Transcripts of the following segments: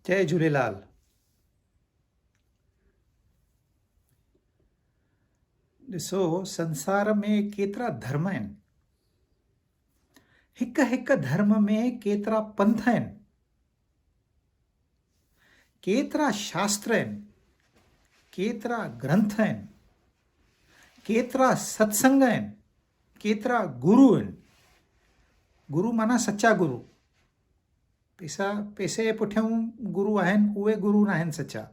جي جهوليلال ڏسو سنسار ۾ ڪيترا ڌرم آهن هڪ هڪ ڌرم ۾ ڪيترا پنٿ آهن ڪيترا شاستر آهن ڪيترا گرنٿ آهن ڪيترا ستسنگ آهن ڪيترا گرو آهن. گرو معنيٰ سچا گرو. پيسا پيسي جي پٺيون گرو آهن اهي گرو ناهن سچا.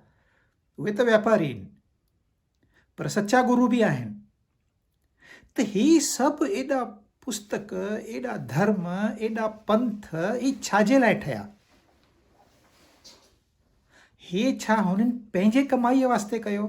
اهي ته واپاري آهن. پر سچا گرو به آهن. ته هي سڀ ايڏا پستڪ، ايڏا ڌرم، ايڏا پنٿ هي ڇا جي لاء ٺهيا؟ هي ڇا هنن پنهنجي ڪمائيء واسطي ڪيو؟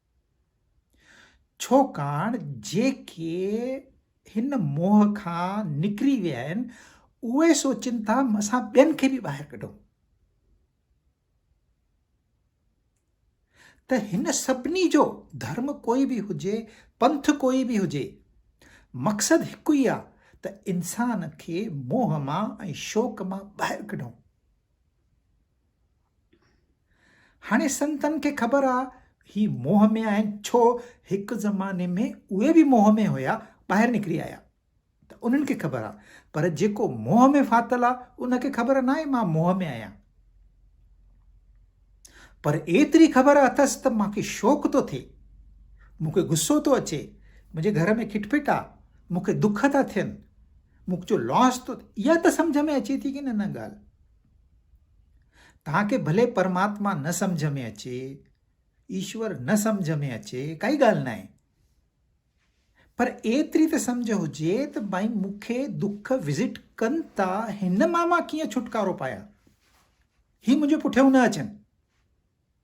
ڇوڪاڻ جيڪي هن موهه کان نڪري ويا آهن، اهي سوچين ٿا اسان ٻين کي به ٻاهر ڪڍون. ته هن سڀني جو ڌرم ڪوئي به هجي، پنٿ ڪوئي به هجي، مقصد هڪ ئي آهي ته انسان کي موهه مان ۽ شوق مان ٻاهر ڪڍون. هاڻي سنتن کي خبر آ هي موهه ۾ آهن ڇو هڪ زماني ۾ اهي به موهه ۾ هيا ٻاهر نڪري آيا ته انهن کي خبر آ پر جيڪو موهه ۾ ڦاٿل آ ان کي خبر ناهي مان موهه ۾ آهيان پر ايتري خبر اٿس ته مان کي شوق ٿو ٿئي مون کي غصو ٿو اچي منهنجي گهر ۾ کٽپٽ آ مون کي دک ٿا ٿين مون جو لاس ٿو اها ته سمجهه ۾ اچي ٿي ڪي نه نه ڳالهه توهان کي ڀلي پرماتما نه سمجهه ۾ اچي، ايشور نه سمجهه ۾ اچي، ڪائي ڳالهه ناهي. پر ايتري ته سمجهه هجي ته ڀائي مون کي دک وزٽ ڪن ٿا هن مان مان ڪيئن ڇوٽڪارو پايان. هي منهنجي پٺيئون نه اچن.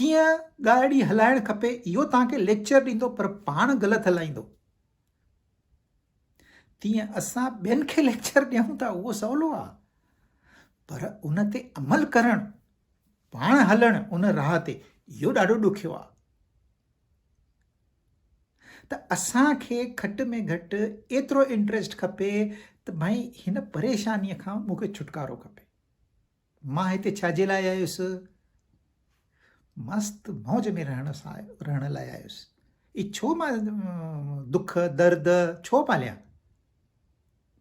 ڪيئن ڳاڙهي هلائڻ کپي اهو توهان کي ليڪچر ڏيندو پر پاڻ غلط هلائيندو تيئن اسان ٻين کي ليڪچر ڏيون ٿا اهو سولو آ پر ان تي عمل ڪرڻ پاڻ هلڻ ان راهه تي اهو ڏاڍو ڏکيو آ ته اسان کي گهٽ ۾ گهٽ ايترو انٽرسٽ کپي ته ڀائي هن پريشانيء کان مونکي ڇوٽڪارو کپي مان هتي ڇا جي لاء آيس؟ مست موج ۾ رهڻ سا رهڻ لاء آيس. هي ڇو مان دک درد ڇو پاليان؟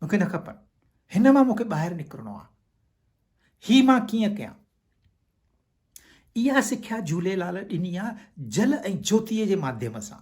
مون کي نه کپن. هن مان مون کي ٻاهر نڪرڻو آ. هي مان ڪيئن ڪيان؟ اها سکيا جهوليلال ڏني آ جل ۽ جوتيء جي ماڌيم سان.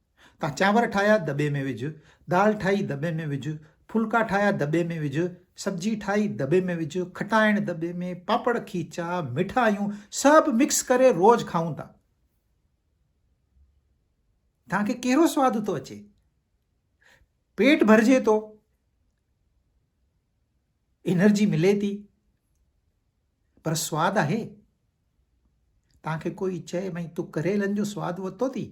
تان چانور ٺاهيا دٻي ۾ وجهه، دال ٺاهي دٻي ۾ وجهه، ڦلڪا ٺاهيا دٻي ۾ وجهه، سبجي ٺاهي دٻي ۾ وجهه، کٽائڻ دٻي ۾، پاپڙ کيچا، مٺايون سڀ مڪس ڪري روز کائون ٿا. تان کي ڪهڙو سواد ٿو اچي؟ پيٽ ڀرجي ٿو؟ انرجي ملي ٿي؟ پر سواد آهي؟ تان کي ڪوئي چئي ڀئي تون ڪريلن جو سواد ورتو ٿي؟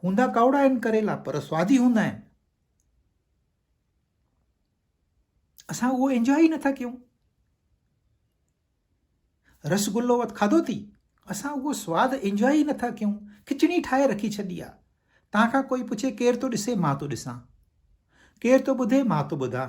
هوندا ڪاوڙا آهن ڪريلا پر سوادي هوندا آهن اسان اهو انجوائي ئي نٿا ڪيون رسگلو وت کاڌو ٿي اسان اهو سواد انجوائي ئي نٿا ڪيون کچڻي ٺاهي رکي ڇڏي آ تان کان ڪوئي پڇي ڪير ٿو ڏسي مان ٿو ڏسان ڪير ٿو ٻڌي مان ٿو ٻڌان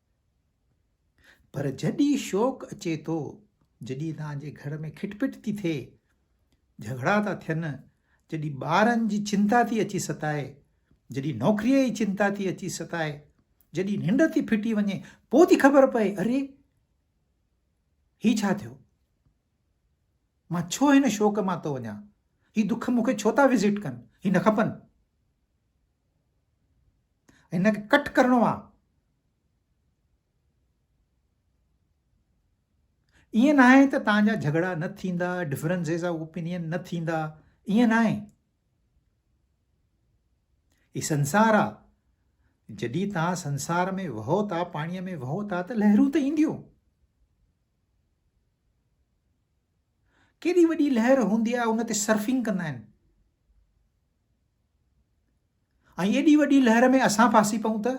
پر جڏي شوق اچي ٿو، جڏي توهان جي گهر ۾ کٽ پٽ ٿي ٿئي، جهڳڙا ٿا ٿين، جڏي ٻارن جي چنتا ٿي اچي ستائي، جڏي نوڪريء جي چنتا ٿي اچي ستائي، جڏي ننڊ ٿي ڦٽي وڃي، پوء ٿي خبر پئي، اري! هي ڇا ٿيو؟ مان ڇو هن شوق مان ٿو وڃان؟ هي دک مون کي ڇو ٿا وزٽ ڪن؟ هي نه کپن. هن کي ڪٽ ڪرڻو آ ائين ناهي ته تان جا جهڳڙا نه ٿيندا ڊفرنسز آف اوپينين نه ٿيندا ائين ناهي هي سنسار آ جڏهن تان سنسار ۾ وهو ٿا پاڻي ۾ وهو ٿا ته لهرون ته اينديون ڪيڏي وڏي لهر هوندي آ ان تي سرفنگ ڪندا آهن ۽ ايڏي وڏي لهر ۾ اسان ڦاسي پئون ته؟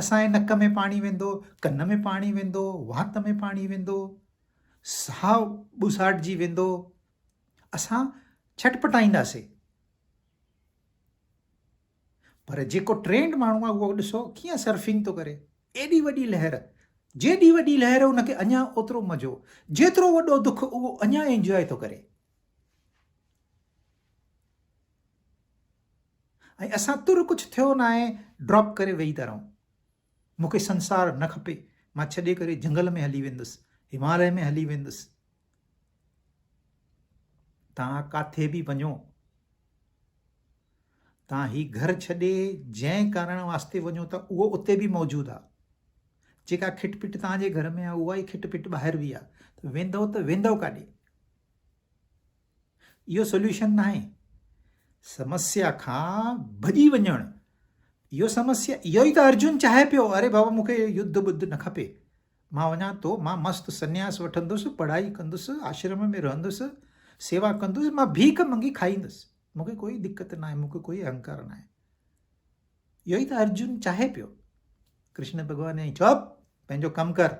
اسان جي نڪ ۾ پاڻي ويندو، ڪن ۾ پاڻي ويندو، وات ۾ پاڻي ويندو، ساهه ٻوساٽجي ويندو، اسان ڇٽپٽائينداسين. پر جيڪو ٽرينڊ ماڻهو آهي اهو ڏسو ڪيئن سرفنگ ٿو ڪري، ايڏي وڏي لهر، جيڏي وڏي لهر ان کي اڃا اوترو مزو، جيترو وڏو دک اهو اڃا انجواء ٿو ڪري. ۽ اسان تر ڪجهه ٿيو ناهي ڊراپ ڪري ويهي ٿا رهون. مون کي سنسار نه کپي، مان ڇڏي ڪري جهنگل ۾ هلي ويندس، هماليه ۾ هلي ويندس. توهان ڪاٿي به وڃو، توهان هي گهر ڇڏي جنهن ڪارڻ واسطي وڃو ٿا اهو اتي به موجود آ. جيڪا کٽ پٽ توهان جي گهر ۾ آ اها ئي کٽ پٽ ٻاهر به آ ته ويندؤ ته ويندؤ ڪاڏي؟ اهو سوليوشن ناهي سمسيا کان ڀڄي وڃڻ اهو سمسيا اهو ئي ته ارجن چاهي پيو اري بابا مونکي يڌ ٻڌ نه کپي مان وڃا ٿو مان مست سنياس وٺندس پڙهائي ڪندس آشرم ۾ رهندس سيوا ڪندس مان ڀيک منگي کائيندس مونکي ڪوئي دقت نه آهي مونکي ڪوئي اهنڪار نه آهي اهو ئي ته ارجن چاهي پيو ڪرشن ڀڳوان چئي چپ پنهنجو ڪم ڪر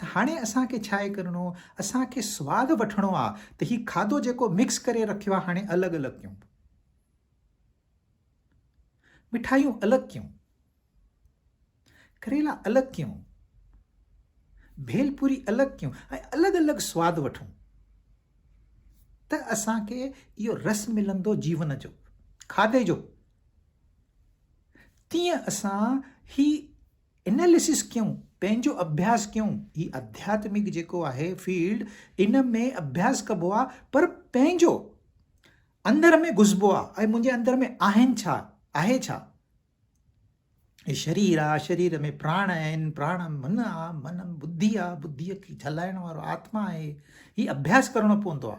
ته هاڻي اسان کي ڇاهي ڪرڻو اسان کي سواد وٺڻو آ ته هي کاڌو جيڪو مڪس ڪري رکيو آ هاڻي الڳ الڳ ڪيون مٺايون الڳ ڪيون ڪريلا الڳ ڪيون ڀيل پوري الڳ ڪيون ۽ الڳ الڳ سواد وٺون ته اسان کي اهو رس ملندو جيون جو کاڌي جو تيئن اسان هي اناليسس ڪيون، پنهنجو اڀياس ڪيون، هي آڌياتمڪ جيڪو آهي فيلڊ ان ۾ اڀياس ڪبو آ پر پنهنجو اندر ۾ گهسبو آ ۽ منهنجي اندر ۾ آهن ڇا آهي ڇا هي شرير آ شرير ۾ پراڻ آهن پراڻ من آ من ٻڌي آ ٻڌي کي جلائڻ وارو آتما آهي هي اڀياس ڪرڻو پوندو آ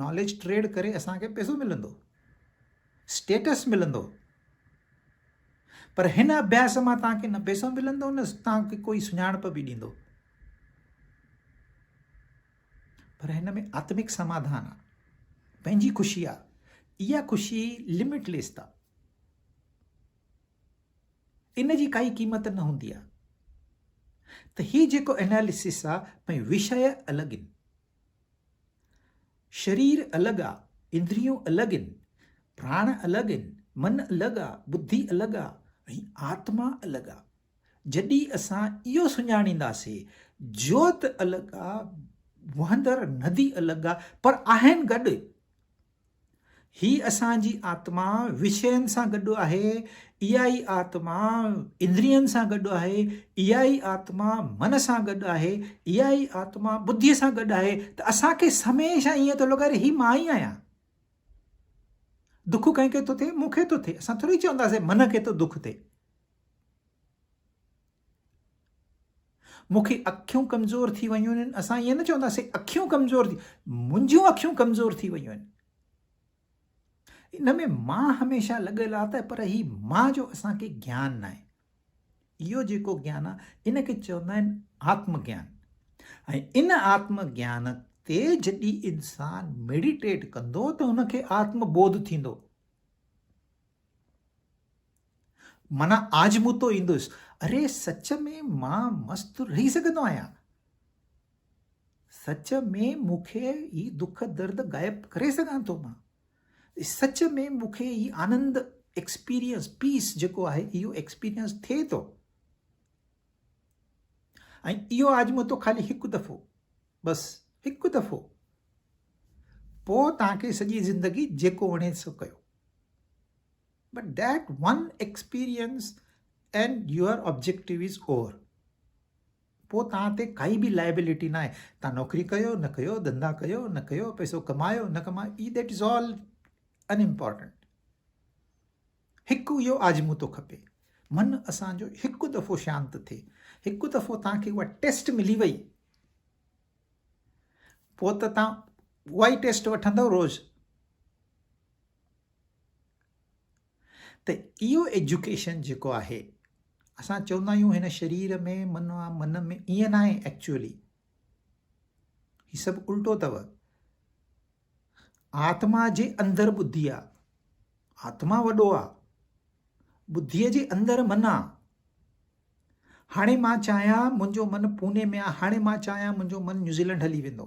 ناليج ٽريڊ ڪري اسان کي پئسو ملندو، اسٽيٽس ملندو پر هن اڀياس مان توهان کي نه پئسو ملندو نه توهان کي ڪوئي سڃاڻپ به ڏيندو پر هن ۾ آتمڪ سماڌان آ پنهنجي خوشي آ اها خوشي لمٽ ليس آ ان جي ڪائي قيمت نه هوندي آ ته هي جيڪو اناليسس آ ۽ وشي الڳ آهن شرير الڳ آ، اندريون الڳ ان، پراڻ الڳ ان، من الڳ آ، ٻڌي الڳ آ ۽ آتما الڳ آ. جڏھن اسان اھو سڃاڻينداسي، جوت الڳ آ، وھندڙ ندي الڳ آ، پر آھن گڏ. هي اسان جي آتما وشين سان گڏ آهي، اها ئي آتما اندرين سان گڏ آهي، اها ئي آتما من سان گڏ آهي، اها ئي آتما ٻڌيء سان گڏ آهي ته اسان کي هميشه ائين ٿو لڳي اڙي هي مان ئي آهيان. دک ڪنهن کي ٿو ٿئي؟ مون کي ٿو ٿئي. اسان ٿوري چونداسين من کي ٿو دک ٿئي. مون کي اکيون ڪمزور ٿي ويون آهن اسان ائين نه چونداسين اکيون ڪمزور ٿي منهنجون اکيون ڪمزور ٿي ويون آهن ان ۾ مان هميشه لڳل آ ته پر هي مان جو اسان کي گيان ناهي اهو جيڪو گيان آ ان کي چوندا آهن آتم گيان ۽ ان آتم گيان تي جڏي انسان ميڊيٽيٽ ڪندو ته ان کي آتم بوڌ ٿيندو معنيٰ آج مون تو ايندس. اري سچ ۾ مان مست رهي سگهندو آهيان. سچ ۾ مون کي هي دک درد غائب ڪري سگهان ٿو مان. سچ ۾ مون کي هي آنند ايڪسپيرينس پيس جيڪو آهي اهو ايڪسپيرينس ٿئي ٿو. ۽ اهو آزموتو خالي هڪ دفعو بس هڪ دفعو پوء توهان کي سڄي زندگي جيڪو وڻي سو ڪيو But that one experience and your objective is over. پوء توهان تي ڪائي به لائبلٽي ناهي توهان نوڪري ڪيو نه ڪيو ڌندا ڪيو نه ڪيو پيسو ڪمايو نه ڪمايو eh that is all unimportant هڪ اهو آزمو ٿو کپي من اسانجو هڪ دفعو شانت ٿئي هڪ دفعو توهان کي اها ٽيسٽ ملي وئي پوء ته توهان اها ئي ٽيسٽ وٺندو روز ته اهو ايجوڪيشن جيڪو آهي اسان چوندا آهيون هن شرير ۾ من آ من ۾ ائين نه آهي ايڪچولي هي سڀ الٽو اٿو آتما جي اندر ٻڌي آ آتما وڏو آ ٻڌي جي اندر من آ هاڻي مان چاهيان منهنجو من پوني ۾ آ هاڻي مان چاهيان منهنجو من نيوزيلينڊ هلي ويندو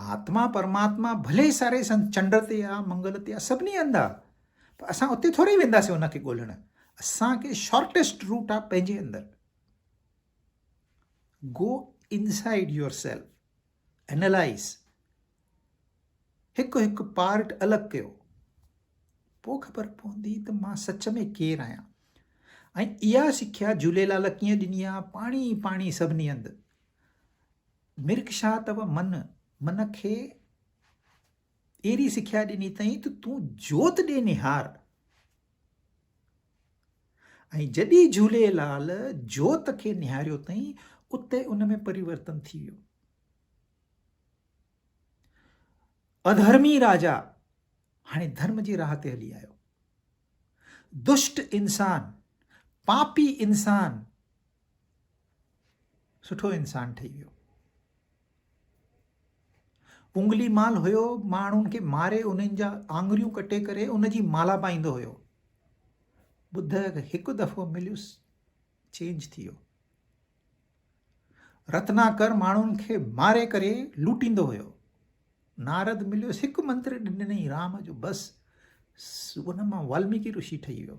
آتما پرماتما ڀلي ساري سنت چنڊ تي آ منگل تي آ سڀني هنڌ آ پر اسان اتي ٿوري وينداسين ان کي ڳولڻ اسان کي شارٽيسٽ روٽ آ پنهنجي اندر go inside yourself analyse هڪ هڪ پارٽ الڳ ڪيو پو خبر پوندي ته مان سچ ۾ ڪير آهيان ۽ اها سکيا جھوليلال ڪيئن ڏني آ پاڻي پاڻي سڀني هنڌ مرڪ شاهه تب من، من کي اهڙي سکيا ڏني اٿئين ته تون جوت ڏي نهار ۽ جڏي جهوليلال جوت کي نهاريو اٿئين اتي ان ۾ پريورتن ٿي ويو اڌرمي راجا هاڻي ڌرم جي راهه تي هلي آيو دشٽ انسان پاپي انسان سٺو انسان ٺهي ويو انگلي مال هيو ماڻهن کي ماري انهن جا آڱريون ڪٽي ڪري ان جي مالا پائيندو هيو ٻڌ هڪ دفعو مليس چينج ٿي ويو رتناڪر ماڻهن کي ماري ڪري لوٽيندو هيو نارد مليس هڪ منتر ڏني رام جو بس ان مان والميڪي رشي ٺهي ويو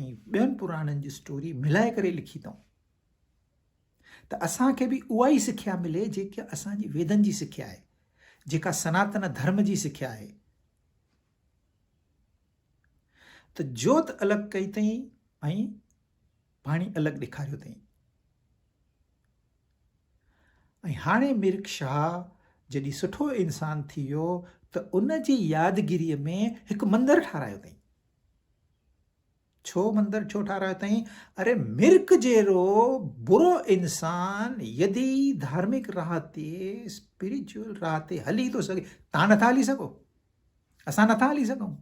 ۽ ٻين پراڻن جي اسٽوري ملائي ڪري لکي اٿئون ته اسان کي به اها ئي سکيا ملي جيڪا اسان جي ويدن جي سکيا آهي جيڪا سناتن ڌرم جي سکيا آهي ته جوت الڳ ڪئي اٿئي ۽ پاڻي الڳ ڏيکاريو اٿئي ۽ هاڻي مرڪ شاهه جڏهن سٺو انسان ٿي ويو ته ان جي يادگيري ۾ هڪ مندر ٺارايو اٿئي ڇو مندر ڇو ٺارايو تئين؟ اري مرڪ جهڙو برو انسان يدي ڌارمڪ راهه تي اسپريچوئل راهه تي هلي ٿو سگهي تان نٿا هلي سگهو اسان نٿا هلي سگهون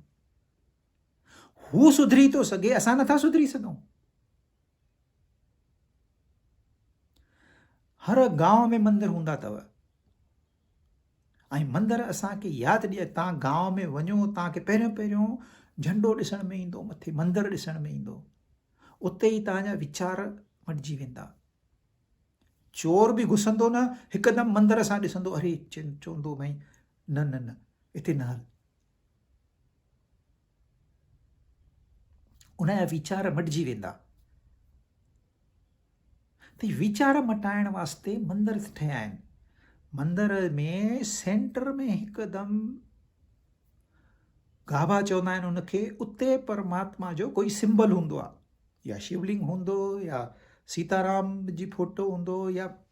هو سڌري ٿو سگهي اسان نٿا سڌري سگهون هر گاؤ ۾ مندر هوندا اٿو ۽ مندر اسان کي ياد ڏياري تان گاء ۾ وڃو تان کي پهريون پهريون جهنڊو ڏسڻ ۾ ايندو مٿي مندر ڏسڻ ۾ ايندو اتي ئي تان جا ويچار مٽجي ويندا چور به گسندو نه هڪدم مندر سان ڏسندو اري چوندو ڀائی نه نه نه اتي نه هل ان جا ويچار مٽجي ويندا ته ويچار مٽائڻ واسطي مندر ٺهيا آهن مندر ۾ سينٽر ۾ هڪدم گاڀا چوندا آهن ان کي اتي پرماتما جو ڪوئي سمبل هوندو آهي يا شولنگ هوندو يا سيتارام جي فوٽو هوندو يا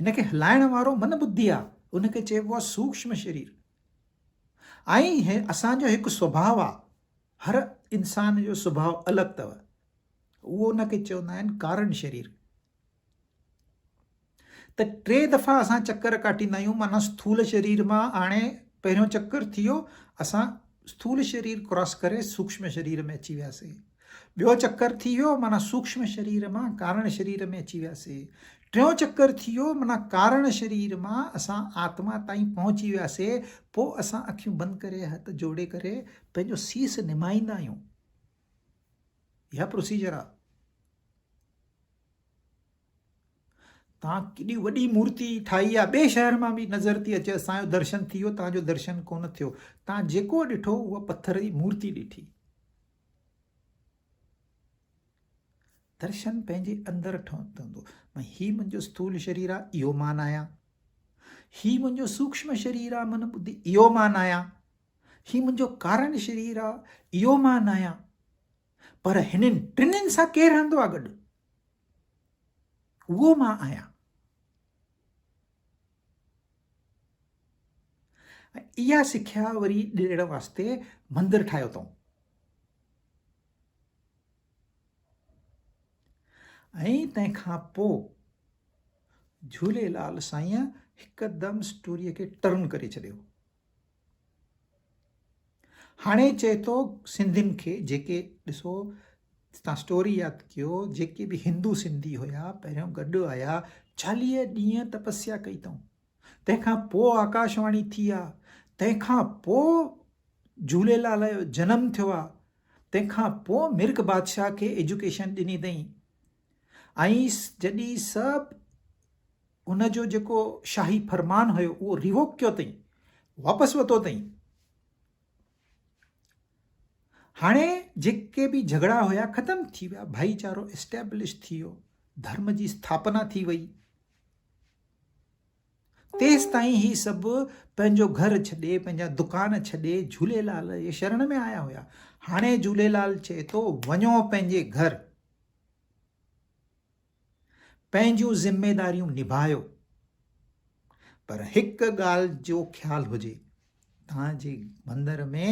هن کي هلائڻ وارو من ٻڌي آ، ان کي چئبو آ سوڪشم شرير. ائين هي اسان جو هڪ سڀاء آ، هر انسان جو سڀاء الڳ تئ، اهو ان کي چوندا آهن ڪارڻ شرير. ته ٽي دفعا اسان چڪر ڪاٽيندا آهيون معنيٰ سٿول شرير مان هاڻي پهريون چڪر ٿيو اسان سٿول شرير ڪراس ڪري سوڪشم شرير ۾ اچي وياسين. ٻيو چڪر ٿي ويو معنيٰ سوڪشم شرير مان ڪارڻ شرير ۾ اچي وياسي. ٽيون چڪر ٿي ويو معنيٰ ڪارڻ شرير مان اسان آتما تائين پهچي وياسي پوء اسان اکيون بند ڪري هٿ جوڙي ڪري پنهنجو سيس نمائيندا آهيون. اها پروسيجر آهي. تان ڪيڏي وڏي مورتي ٺاهي آ ٻي شهر مان به نظر ٿي اچي اسان جو درشن ٿي ويو تان جو درشن ڪونه ٿيو تان جيڪو ڏٺو اها پٿر جي مورتي ڏٺي درشن پنهنجي اندر ٺهندو. مان هي منهنجو سٿول شرير آ، اهو مان آهيان. هي منهنجو سوڪشم شرير آ، من ٻڌي، اهو مان آهيان. هي منهنجو ڪارڻ شرير آ، اهو مان آهيان. پر هنن ٽنهن سان ڪير رهندو آ گڏ؟ اهو مان آهيان. ۽ اها سکيا وري ڏيڻ واسطي مندر ٺاهيو اٿئون ۽ تنهن کان پوء جهوليلال سائين هڪدم اسٽوريء کي ٽرن ڪري ڇڏيو هاڻي چئي ٿو سنڌين کي جيڪي ڏسو تان اسٽوري ياد ڪيو جيڪي به هندو سنڌي هيا پهريون گڏ آيا چاليهه ڏينهن تپسيا ڪئي اٿئون تنهن کان پوء آڪاشواڻي ٿي آ تنهن کان پوء جهوليلال جو جنم ٿيو آ تنهن کان پوء مرڪ بادشاهه کي ايجوڪيشن ڏني اٿئي ۽ جڏهن سب ان جو جيڪو شاهي فرمان هيو اهو ريووڪ ڪيو تئين واپس وتو تئين هاڻي جيڪي به جهگڙا هيا ختم ٿي ويا ڀائي چارو اسٽيبلش ٿي ويو ڌرم جي اسٿاپنا ٿي وئي تيس تائين هي سب پنهنجو گهر ڇڏي پنهنجا دڪان ڇڏي جھوليلال جي شرڻ ۾ آيا هيا هاڻي جھوليلال چئي ٿو وڃو پنهنجي گهر پنهنجون ذميداريون نڀايو پر هڪ ڳالهه جو خيال هجي توهان جي مندر ۾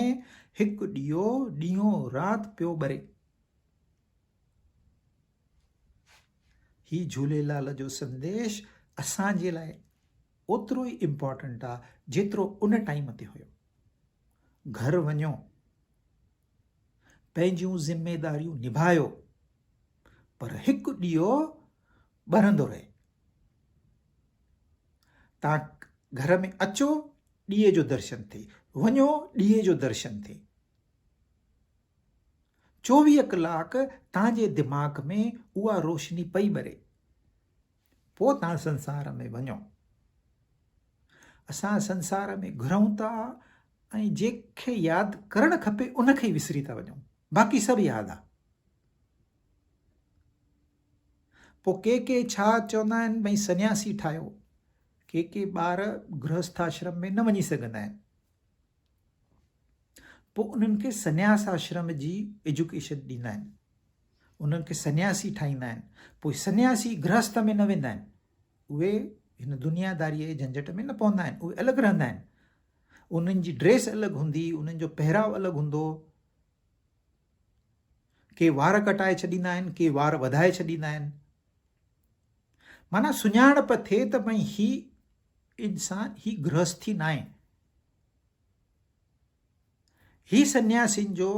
هڪ ڏيئو ڏينهون رات پيو ٻري هي جهوليلال جو سنديش اسان جي لاء اوترو ئي امپورٽنٽ آ جيترو ان ٽائيم تي هيو گهر وڃو پنهنجون ذميداريون نڀايو پر هڪ ڏيئو ٻرندو رهي تان گهر ۾ اچو ڏيئي جو درشن ٿي وڃو ڏيئي جو درشن ٿي چوويهه ڪلاڪ تنهنجي دماغ ۾ اها روشني پئي ٻري پوء توهان سنسار ۾ وڃو. اسان سنسار ۾ گهرون ٿا ۽ جنهن کي ياد ڪرڻ کپي ان کي ئي وسري ٿا وڃون. باقي سڀ ياد آ. پوء ڪي ڪي ڇا چوندا آهن ڀئي سنياسي ٺاهيو. ڪي ڪي ٻار گرهسٿاشرم ۾ نه وڃي سگهندا آهن. پوء انهن کي سنياس آشرم جي ايجوڪيشن ڏيندا آهن. انهن کي سنياسي ٺاهيندا آهن. پوء سنياسي گرهسته ۾ نه ويندا آهن. اهي هن دنياداريء جي جهنجهٽ ۾ نه پوندا آهن. اهي الڳ رهندا آهن. انهن جي ڊريس الڳ هوندي، انهن جو پهراء الڳ هوندو. ڪي وار ڪٽائي ڇڏيندا آهن، ڪي وار وڌائي ڇڏيندا آهن. معنيٰ سڃاڻپ ٿئي ته ڀئي هي انسان، هي گرهستي ناهي. هي سنياسين جو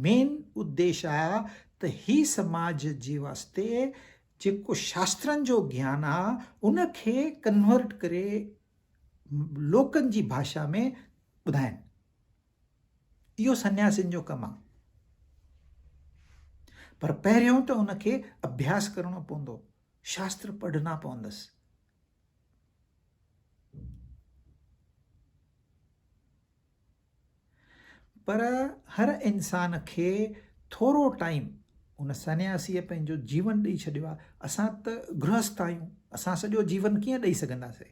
مين اديش آ ته هي سماج جي واسطي جيڪو شاسترن جو گيان آ ان کي ڪنورٽ ڪري لوڪن جي ڀاشا ۾ ٻڌائين اهو سنياسين جو ڪم آ پر پهريون ته ان کي اڀياس ڪرڻو پوندو شاستر پڙهنا پوندس پر هر انسان کي ٿورو ٽائيم ان سنياسيء پنهنجو جيون ڏئي ڇڏيو آهي اسان ته گرهست آهيون اسان سڄو جيون ڪيئن ڏئي سگهنداسين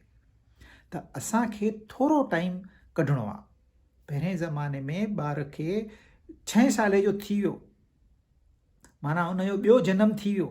ته اسان کي ٿورو ٽائيم ڪڍڻو آهي پهرين زماني ۾ ٻار کي ڇهين سالي جو ٿي ويو معنيٰ ان جو ٻيو جنم ٿي ويو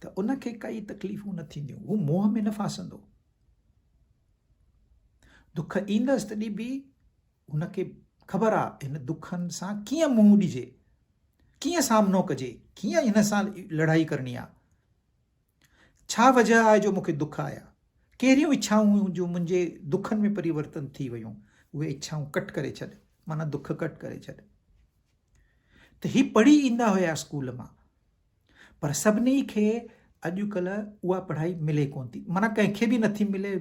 ته ان کي ڪئي تڪليفون نه ٿينديون، هو موهه ۾ نه ڦاسندو. دک ايندس تڏهن به هن کي خبر آ هن دکن سان ڪيئن منهن ڏجي، ڪيئن سامنو ڪجي، ڪيئن هن سان لڙائي ڪرڻي آ. ڇا وجه آهي جو مون کي دک آيا، ڪهڙيون اڇائون هيون جو منهنجي دکن ۾ پريورتن ٿي ويون، اهي اڇائون ڪٽ ڪري ڇڏ، معنيٰ دک ڪٽ ڪري ڇڏ. ته هي پڙهي ايندا هيا اسڪول مان پر سڀني کي اڄڪلهه اها پڙهائي ملي ڪونه ٿي معنيٰ ڪنهن کي به نٿي ملي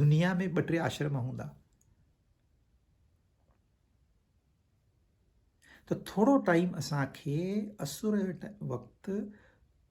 دنيا ۾ ٻه ٽي آشرم هوندا ته ٿورو ٽائيم اسان کي اسر وقت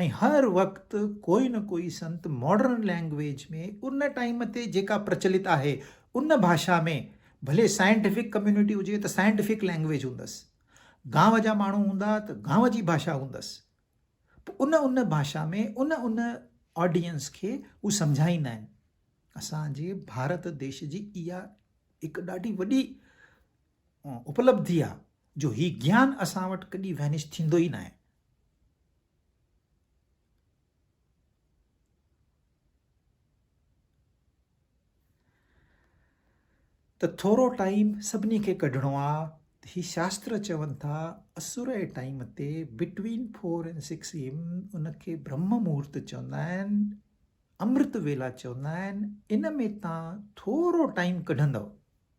۽ هر وقت ڪوئي نه ڪوئي سنت ماڊرن لئنگويج ۾ ان ٽائيم تي جيڪا پرچلت آهي ان ڀاشا ۾ ڀلي سائنٽيفڪ ڪميونٽي هجي ته سائنٽيفڪ لئنگويج هوندس گانو جا ماڻهو هوندا ته گانو جي ڀاشا هوندس پوء ان ان ڀاشا ۾ ان ان آڊينس کي هو سمجهائيندا آهن اسان جي ڀارت ديش جي اها هڪ ڏاڍي وڏي اپلبڌي آ جو هي گيان اسان وٽ ڪڏي وينش ٿيندو ئي ناهي. ته ٿورو ٽائيم سڀني کي ڪڍڻو آ ته هي شاستر چون ٿا اسور اي ٽائيم تي between four and six AM ان کي برهم مهورت چوندا آهن امرت ويلا چوندا آهن ان ۾ تان ٿورو ٽائيم ڪڍندو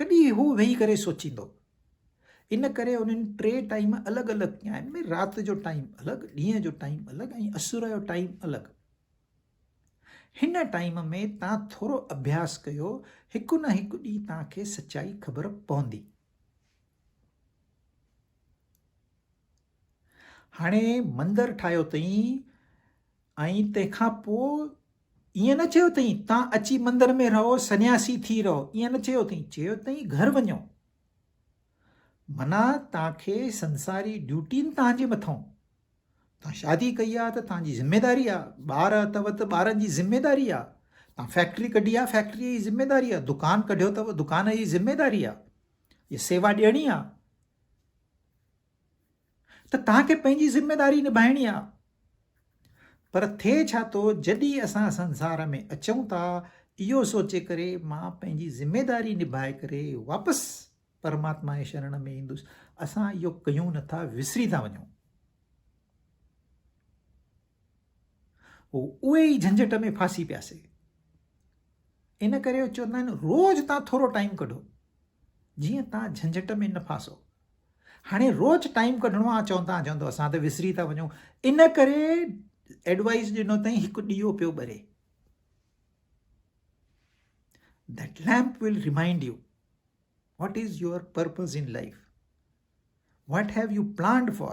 ڪڏهن اهو ويهي ڪري سوچيندو. ان ڪري انهن ٽي ٽائيم الڳ الڳ ڪيا آهن ڀي رات جو ٽائيم الڳ ڏينهن جو ٽائيم الڳ ۽ اسر جو ٽائيم الڳ هن ٽائيم ۾ تان ٿورو اڀياس ڪيو هڪ نه هڪ ڏينهن تان کي سچائي خبر پوندي. هاڻي مندر ٺاهيو اٿئين ۽ تنهن کان پوء ائين نه چيو اٿئين تان اچي مندر ۾ رهو سنياسي ٿي رهو ائين نه چيو اٿئين چيو اٿئين گهر وڃو منا تان کي سنساري ڊيوٽين تان جي مٿئون تان شادي ڪئي آ ته تان جي ذميداري آ ٻار اتو ته ٻارن جي ذميداري آ تان فيڪٽري ڪڍي آ فيڪٽري جي ذميداري آ دڪان ڪڍيو ته دڪان جي ذميداري آ جي سيوا ڏيڻي آ ته توهان کي پنهنجي ذميداري نڀائڻي آ پر ٿئي ڇا ٿو جڏهن اسان سنسار ۾ اچون ٿا اهو سوچي ڪري مان پنهنجي ذميداري نڀائي ڪري واپس پرماتما جي شرڻ ۾ ايندس اسان اهو ڪيون نٿا وسري ٿا وڃون هو اهي ئي جهنجهٽ ۾ ڦاسي پيا سي. ان ڪري هو چوندا آهن روز تان ٿورو ٽائيم ڪڍو جيئن تان جهنجهٽ ۾ نه ڦاسو هاڻي روز ٽائيم ڪڍڻو آ چون تان چوندو اسان ته وسري ٿا وڃون ان ڪري ايڊوائيز ڏنو تائين هڪ ڏيو پيو ٻري that lamp will remind you what is your purpose in life what have you planned for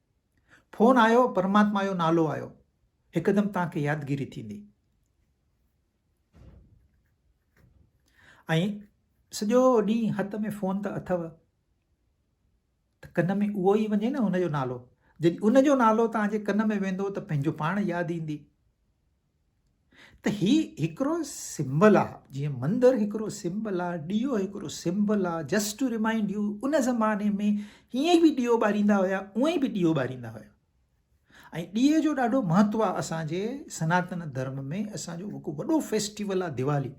phone آيو پرماتما جو نالو آيو هڪدم توهان کي يادگيري ٿيندي ۽ سڄو ڏينهن هٿ ۾ فون ته اٿو ته ڪن ۾ اهو ئي وڃي نه ان جو نالو جڏهن ان جو نالو توهان جي ڪن ۾ ويندو ته پنهنجو پاڻ ياد ايندي ته هي هڪڙو سمبل آ جيئن مندر هڪڙو سمبل آ ڏيئو هڪڙو سمبل آ جسٽ ٽو ريمائنڊ يو ان زماني ۾ هيئن به ڏيئو ٻاريندا هيا اوئين به ڏيئو ٻاريندا هيا ۽ ڏيئي جو ڏاڍو مهتو آ اسان جي سناتن ڌرم ۾ اسان جو هڪ وڏو فيسٽيول آ ديوالي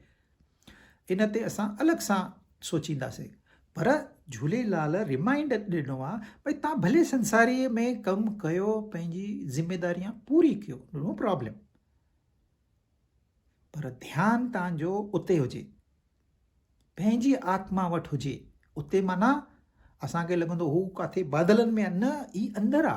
ان تي اسان الڳ سان سوچينداسين پر جھوليلال ريمائنڊ ڏنو آ ڀئي تان ڀلي سنساري ۾ ڪم ڪيو پنهنجي ذميداريان پوري ڪيو نو پرابلم پر ڌيان تان جو اتي هجي پنهنجي آتما وٽ هجي اتي مانا اسان کي لڳندو هو ڪاٿي بادلن ۾ نه هي اندر آ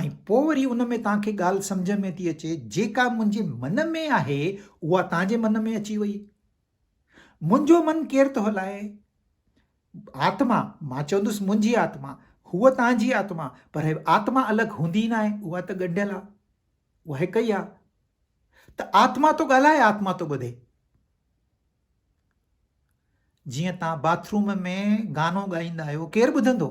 ۽ پوء وري ان ۾ توهان کي ڳالهه سمجهه ۾ ٿي اچي، جيڪا منهنجي من ۾ آهي، اها توهان جي من ۾ اچي وئي. منهنجو من ڪير ٿو هلائي؟ آتما، مان چوندس منهنجي آتما، هوء توهان جي آتما، پر آتما الڳ هوندي ئي ناهي، اها ته ڳنڍيل آهي، اها هڪ ئي آهي. ته آتما ٿو ڳالهائي، آتما ٿو ٻڌي. جيئن توهان باٿروم ۾ گانو ڳائيندا آهيو، ڪير ٻڌندو؟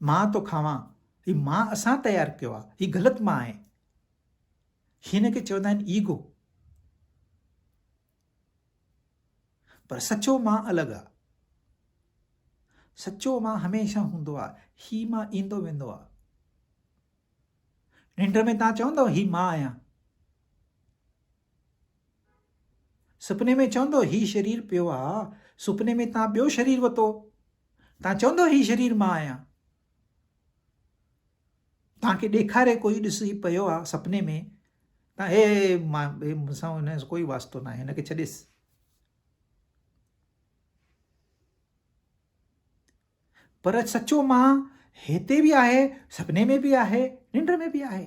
مان ٿو کاوان، هي مان اسان تيار ڪيو آ، هي غلط مان آهي. هن کي چوندا آهن ايگو. پر سچو مان الڳ آ. سچو مان هميشه هوندو آ، هي مان ايندو ويندو آ. ننڊ ۾ تان چوندو هي مان آهيان. سپني ۾ چوندو هي شرير پيو آ. سپني ۾ تان ٻيو شرير وتو. تان چوندو هي شرير مان آهيان. تان کي ڏيکاري ڪوئي ڏسي پيو آ سپني ۾ تان هي مان هي مون سان هن جو ڪوئي واسطو ناهي هن کي ڇڏيس. پر سچو مان هتي به آهي، سپني ۾ به آهي، ننڊ ۾ به آهي.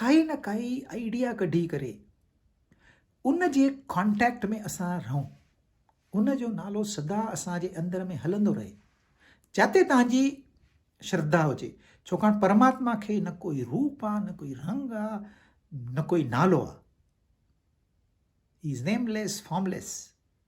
ڪائي نه ڪائي آئيڊيا ڪڍي ڪري ان جي ڪانٽيڪٽ ۾ اسان رهون ان جو نالو سدا اسان جي اندر ۾ هلندو رهي جتي تنهنجي شرڌا هجي ڇوڪاڻ پرماتما کي نه ڪوئي روپ آ نه ڪوئي رنگ آ نه ڪوئي نالو آ از نيم ليس فارم ليس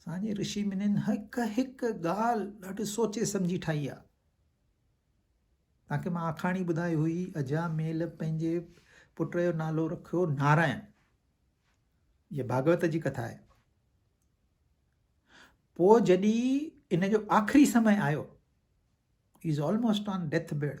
اسان جي رشي منين هڪ هڪ ڳالهه ڏاڍي سوچي سمجهي ٺاهي آهي. تنهن کي مان آکاڻي ٻڌائي هئي اجها ميل پنهنجي پٽ جو نالو رکيو نارائن هي ڀاڳوت جي ڪٿا آهي پوء جڏي ان جو آخري سمي آيو is almost on deathbed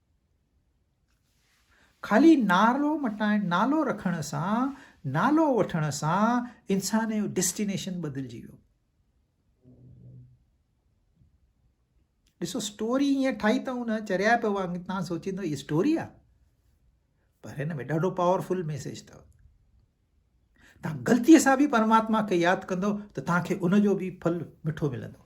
خالي نالو مٽائڻ، نالو رکڻ سان، نالو وٺڻ سان انسان جو ڊيسٽينيشن بدلجي ويو. ڏسو اسٽوري ائين ٺاهي اٿئون نه چريا پيو وانگ تان سوچيندو هي اسٽوري آ پر هن ۾ ڏاڍو پاورفل ميسج اٿو تان غلطي سان به پرماتما کي ياد ڪندو ته تان کي ان جو به ڦل مٺو ملندو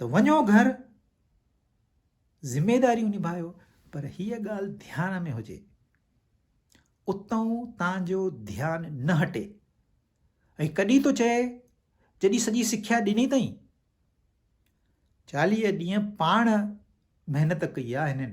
ته وڃو گهر ذميداريون نڀايو پر هيء ڳالهه ڌيان ۾ هجي اتئون تان جو ڌيان نه هٽي ۽ ڪڏهن ٿو چئي جڏهن سڄي سکيا ڏني اٿئين چاليهه ڏينهن پاڻ محنت ڪئي آهي هنن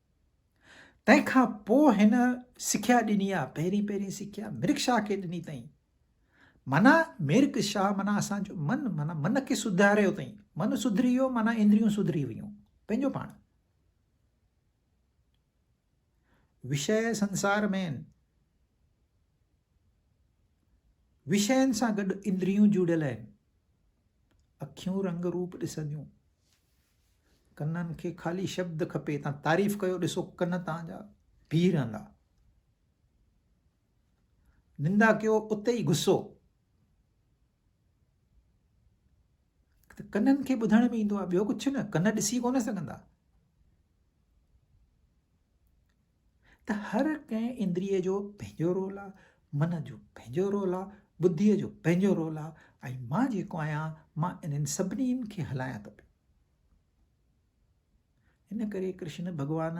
تنهن کان پوء هن سکيا ڏني آ، پهرين پهرين سکيا ميرڪ شاهه کي ڏني تئين. معنيٰ ميرڪ شاهه معنيٰ اسان جو من، معنيٰ من کي سڌاريو تئين. من سڌري ويو معنيٰ اندريون سڌري ويون. پنهنجو پاڻ. وشيه سنسار ۾، وشين سان گڏ اندريون جڙيل آهن. اکيون رنگ روپ ڏسنديون. ڪنن کي خالي شبد کپي تان تعريف ڪيو ڏسو ڪن تان جا بيهي رهندا نندا ڪيو اتي ئي غصو ته ڪنن کي ٻڌڻ ۾ ايندو آهي ٻيو ڪجهه نه ڪن ڏسي ڪونه سگهندا ته هر ڪنهن اندريء جو پنهنجو رول آ، من جو پنهنجو رول آ، ٻڌيء جو پنهنجو رول آ ۽ مان جيڪو آهيان مان انهن سڀني کي هلايان ٿو پيو. ان ڪري ڪرشن ڀڳوان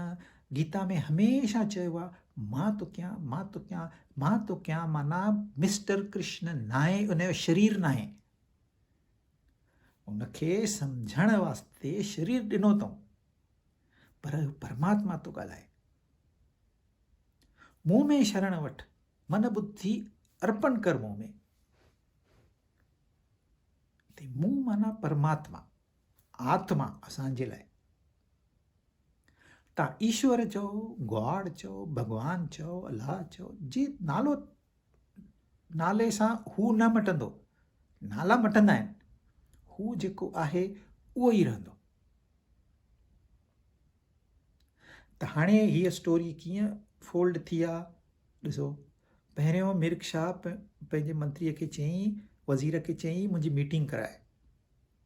گيتا ۾ هميشه چيو آ مان ٿو ڪيان مان ٿو ڪيان مان ٿو ڪيان معنيٰ مسٽر ڪرشن ناهي ان جو شرير ناهي ان کي سمجهڻ واسطي شرير ڏنو اٿئون پر پرماتما ٿو ڳالهائي. مون ۾ شرڻ وٺ، من ٻڌي ارپڻ ڪر مون ۾. هتي مون معنيٰ پرماتما، آتما اسان جي لاء. تان ايشور چئو، گاڊ چئو، ڀڳوان چئو، الله چئو، جي نالو نالي سان هو نه مٽندو. نالا مٽندا آهن. هو جيڪو آهي اهو ئي رهندو. ته هاڻي هيء اسٽوري ڪيئن فولڊ ٿي آ ڏسو. پهريون ميرڪ شاهه پنهنجي منتريء کي چيائين وزير کي چيائين منهنجي ميٽنگ ڪرائي.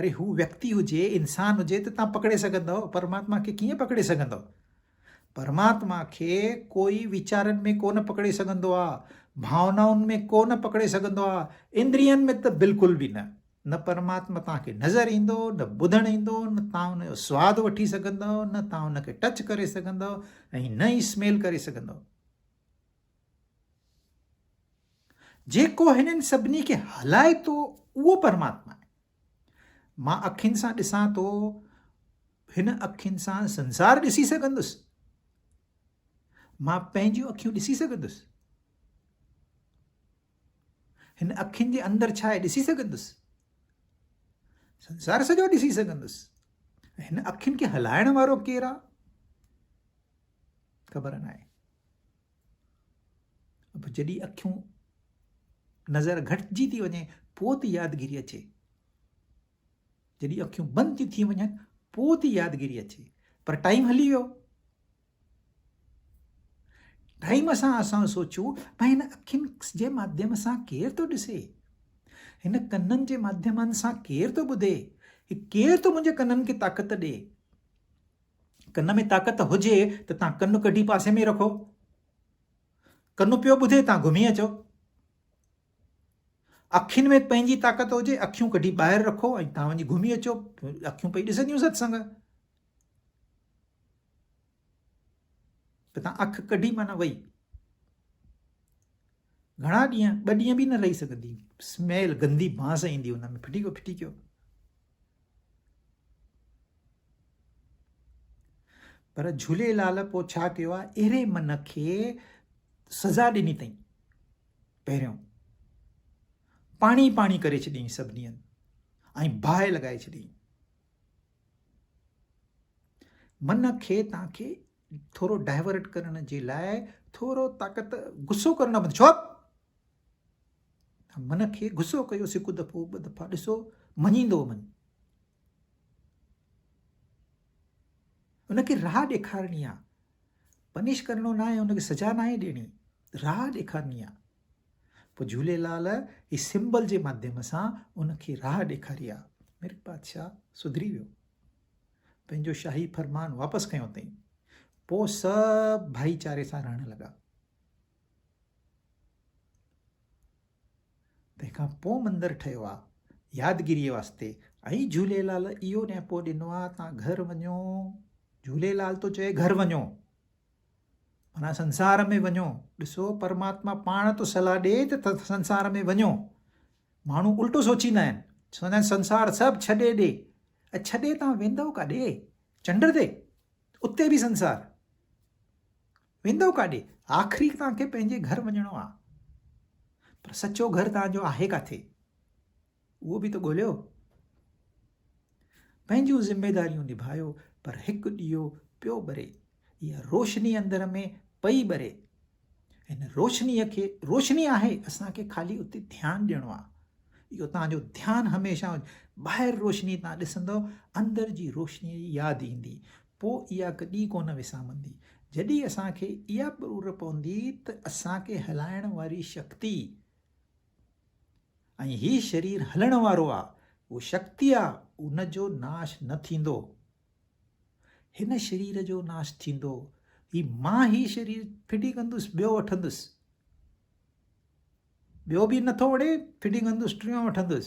اري هو ويڪتي هجي، انسان هجي ته توهان پڪڙي سگهندؤ، پرماتما کي ڪيئن پڪڙي سگهندؤ؟ پرماتما کي ڪوئي ويچارن ۾ ڪونه پڪڙي سگهندو آهي، ڀاونائن ۾ ڪونه پڪڙي سگهندو آهي، اندرين ۾ ته بلڪل به نه. نه پرماتما توهان کي نظر ايندو، نه ٻڌڻ ايندو، نه توهان ان جو سواد وٺي سگهندؤ، نه توهان ان کي ٽچ ڪري سگهندؤ ۽ نه ئي سميل ڪري سگهندؤ. جيڪو هنن سڀني کي هلائي ٿو اهو پرماتما آهي. مان اکين سان ڏسان ٿو، هن اکين سان سنسار ڏسي سگهندس. مان پنهنجون اکيون ڏسي سگهندس. هن اکين جي اندر ڇا آهي ڏسي سگهندس. سنسار سڄو ڏسي سگهندس. هن اکين کي هلائڻ وارو ڪير آهي خبر ناهي. به جڏهن اکيون نظر گهٽجي ٿي وڃي پوء ٿي يادگيري اچي جڏهن اکيون بند ٿي ٿي وڃن پوء ٿي يادگيري اچي پر ٽائيم هلي ويو ٽائيم سان اسان سوچيو ۽ هن اکين جي ماڌيم سان ڪير ٿو ڏسي هن ڪنن جي ماڌيمن سان ڪير ٿو ٻڌي ڪير ٿو منهنجي ڪنن کي طاقت ڏي ڪن ۾ طاقت هجي ته تان ڪن ڪڍي پاسي ۾ رکو. ڪن پيو ٻڌي تان گهمي اچو. اکين ۾ پنهنجي طاقت هجي اکيون ڪڍي ٻاهر رکو ۽ تان وڃي گهمي اچو اکيون پئي ڏسنديون ستسنگ. ته تان اک ڪڍي معنيٰ وئي. گهڻا ڏينهن، ٻه ڏينهن به نه رهي سگهندي. سميل گندي بانس ايندي ان ۾ ڦٽي ڪيو ڦٽي ڪيو. پر جهوليلال پوء ڇا ڪيو آهي اهڙي من کي سزا ڏني اٿئي پهريون پاڻي پاڻي ڪري ڇڏيائين سڀني هنڌ ۽ باهه لڳائي ڇڏيائين من کي تان کي ٿورو ڊائيورٽ ڪرڻ جي لاء ٿورو طاقت غصو ڪرڻ بند ڇو من کي غصو ڪيو سڪ دفعو ٻه دفعا ڏسو مڃيندو من انکي راهه ڏيکارڻي آ پنش ڪرڻو نه آهي انکي سزا نه آهي ڏيڻي راهه ڏيکارڻي آ پوء جھوليلال هي سمبل جي ماڌيم سان انکي راهه ڏيکاري آ ميرڪ بادشاهه سڌري ويو پنهنجو شاهي فرمان واپس کنيو اٿئين. پوء سڀ ڀائيچاري سان رهڻ لڳا. تنهن کان پوء مندر ٺهيو آ يادگيريء واسطي ۽ جهوليلال اهو نيپو ڏنو آ تان گهر وڃو جهوليلال ٿو چئي گهر وڃو معنيٰ سنسار ۾ وڃو ڏسو پرماتما پاڻ ٿو صلاح ڏي ته سنسار ۾ وڃو ماڻهو الٽو سوچيندا آهن، چوندا آهن سنسار سڀ ڇڏي ڏي، ۽ ڇڏي توهان ويندؤ ڪاڏي؟ چنڊ تي؟ اتي به سنسار؟ ويندؤ ڪاڏي؟ آخري توهان کي پنهنجي گهر وڃڻو آ، پر سچو گهر توهان جو آهي ڪاٿي؟ اهو به ته ڳوليو. پنهنجون ذميداريون نڀايو پر هڪ ڏيئو پيو ٻري، اها روشني اندر ۾ پئي ٻري. هن روشنيء کي روشني آهي اسان کي خالي اتي ڌيان ڏيڻو آهي. اهو توهان جو ڌيان هميشه ٻاهر روشني تان ڏسندو اندر جي روشنيء جي ياد ايندي پوء اها ڪڏهن ڪونه وسامندي. جڏهن اسان کي اها ٻرور پوندي ته اسان کي هلائڻ واري شڪتي، ۽ هي شرير هلڻ وارو آ، هو شڪتي آ، ان جو ناش نه ٿيندو. هن شرير جو ناش ٿيندو، هي مان هي شرير ڦٽي ڪندس ٻيو وٺندس. ٻيو به نٿو وڻي، ڦٽي ڪندس ٽيون وٺندس.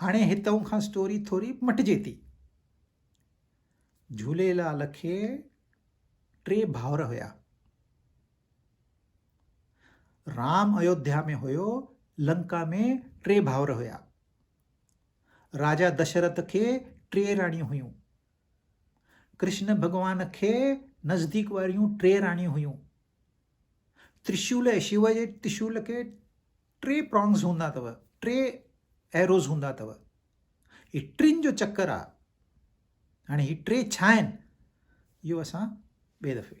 هاڻي هتئون کان اسٽوري ٿوري مٽجي ٿي. جهوليلال کي ٽي ڀائر هيا. رام ايوڌيا ۾ هيو، لنڪا ۾ ٽي ڀائر هيا. راجا دشرت کي ٽي راڻيون هيون. ڪرشن ڀڳوان کي نزديڪ واريون ٽي راڻيون هيون. ترشول ۽ شيوا جي ترشول کي ٽي پرانگز هوندا اٿو ٽي ايروز هوندا اٿو هي ٽن جو چڪر آ هاڻي هي ٽي ڇا آهن اهو اسان ٻئي دفعي